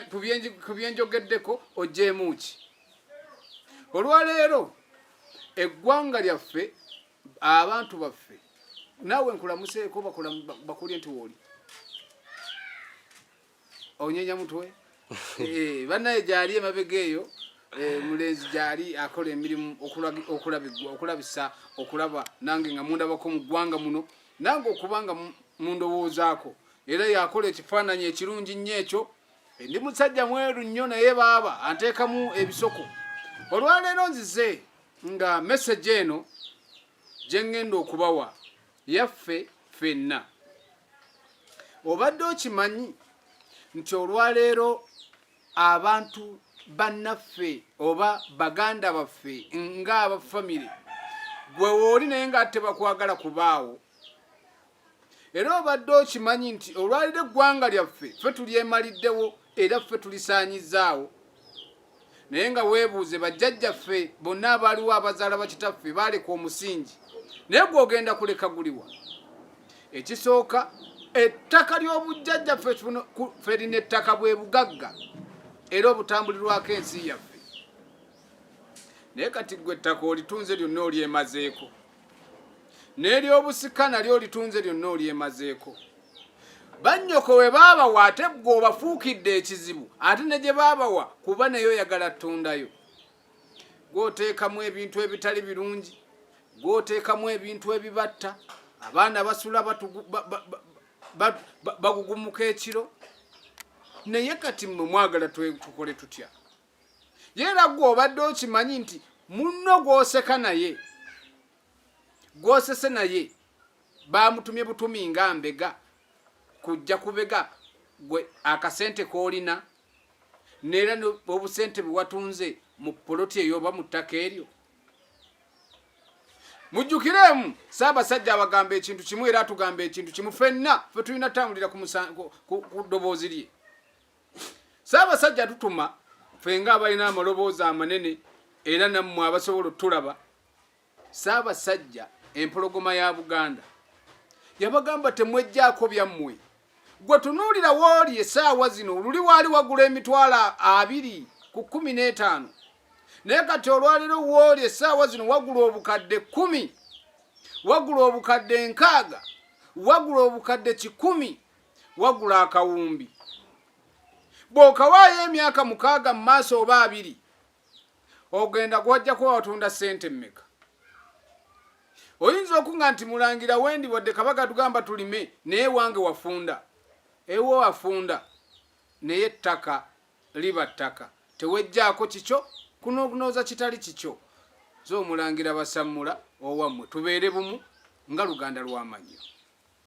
ku byenjogeddeko ogyemu ki olwaleero eggwanga lyaffe abantu baffe naawe nkulamuseeko bakulye nti wooli onyenya mutwe eh, banaye gyali emabega eyo eh, mulenzi gyali akola emirimu okulabisa okulaba nange nga mundabako mu ggwanga muno nange okubanga mundowoozaako era yakola ekifaananyi ekirungi nnyo ekyo ndi musajja mweru nnyo naye baaba anteekamu ebisoko olwaleero nzize nga meseji eno gye ŋŋenda okubawa yaffe ffenna obadde okimanyi nti olwaleero abantu bannaffe oba baganda baffe ng'abafamire gwe wooli naye nga tebakwagala kubaawo era obadde okimanyi nti olwaliro eggwanga lyaffe ffe tulyemaliddewo era ffe tulisaanyizaawo naye nga weebuuze bajjajjaffe bonna abaaliwo abazaala bakitaffe baaleka omusingi naye gwogenda kuleka guliwa ekisooka ettaka ly'obujjajja ffe lina ettaka bwe bugagga era obutambulirwako ensi yaffe naye kati gwe ettaka olitunze lyonna olyemazeeko n'ery'obusika nalyo olitunze lyonna olyemazeeko bannyoko we baabawa ate ggwe obafuukidde ekizibu ate ne gye baabawa kuba naye oyagala ttundayo gwoteekamu ebintu ebitali birungi gwoteekamu ebintu ebibatta abaana basula bagugumuka ekiro naye kati mwe mwagala tukole tutya yera gwe obadde okimanyi nti munno gwoseka naye gwosese naye bamutumye butumi nga mbega kujja kubega gwe akasente kolina neera obusente bwewatunze mu poloti eyo oba mu ttaka eryo mujjukiremu saabasajja abagamba ekintu kimu era atugamba ekintu kimu fenna fe tulina tambulira ku ddoboozi lye saabasajja tutuma fenga abalina amaloboozi amanene era nammwe abasobola otulaba saabasajja empologoma ya buganda yabagamba temwejjaako byammwe gwe tunuulira wooli esaawa zino luli waali wagula emitwalo abiri ku kumi n'etaano naye kati olwaliro wooli esaawa zino wagula obukadde kumi wagula obukadde nkaaga wagula obukadde kikumi wagula akawumbi bw'okawaayo emyaka mukaaga mu maaso oba abiri ogenda gwojja kuba watunda ssente mmeka oyinza okunga nti mulangira wendi wadde kabaga tugamba tulime naye wange wafunda ewo wafunda naye ettaka liba ttaka tewejjaako kikyo kunokunooza kitali kikyo zoomulangira basammula owammwe tubeere bumu nga luganda lwamannyo